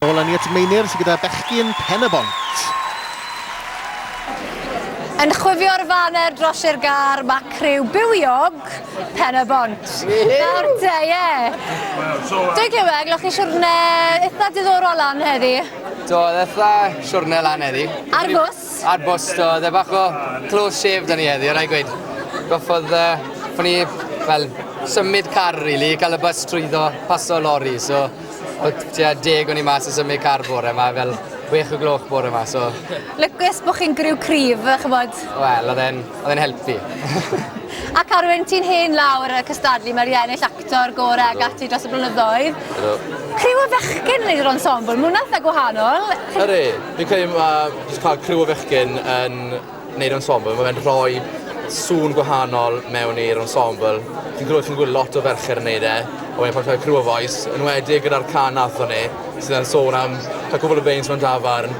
Nôl â ni at Meinir sydd gyda bechgyn Pen-y-bont. Yn chwifio'r faner dros i'r gar, mae criw bywiog Pen-y-bont. Nawr te, ie. Dwi'n clywed, glywch chi siwrne eitha diddorol lan heddi? Do, oedd eitha siwrne lan heddi. Ar fws? Ar bost oedd e bach o close shave da ni heddi o rai gweud. Goffodd uh, fo ni fel symud car really, cael y bus trwyddo paso lori so o tua deg o'n i mas yn symud car bore yma fel wech o gloch bore yma so... Lycus bod chi'n griw cryf, chymod? Wel, oedd e'n helpu. Ac Arwen, ti'n hen lawr y cystadlu, mae'r iennill ac actor gore ag ati dros y blynyddoedd. Helo. Criw o fechgyn yn neud yr ensemble, ma' hwnna'n eitha gwahanol. Ydi, fi'n credu ma' jyst ca'l criw o fechgyn yn neud ensemble ma' fe'n rhoi sŵn gwahanol mewn i'r ensemble. Fi'n credu chi'n gwel' lot o ferched yn neud e a wedyn pan chi'n ca'l criw o fois enwedig gyda'r cân nathon ni sydd yn sôn am ca'l cwpwl o beirniaid mewn dafarn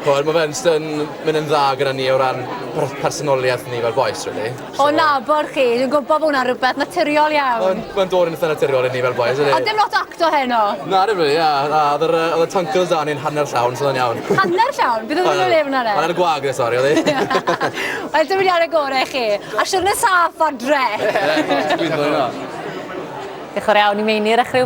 ch'mod ma' fe'n jyst yn myn' yn dda gyda ni o ran per- personolieth ni fel bois rili. O nabod chi, dwi'n gwybod bod hwnna'n rhywbeth naturiol iawn. Mae'n ma dod yn eitha naturiol i ni fel boys, ydy? Ond dim lot o acto heno. Na, dim really, ia. Na, oedd yr, oedd y tunkles da ni'n hanner llawn, so oedd o'n iawn. Hanner llawn? Bydd oedd yn lefn ar e? Hanner gwag, ne, sori, oedd e? Wel, dim wedi ar y gorau i chi. A siwrne saff adre. Ie, dwi'n gwybod hwnna. Diolch yn iawn i Meinir a chryw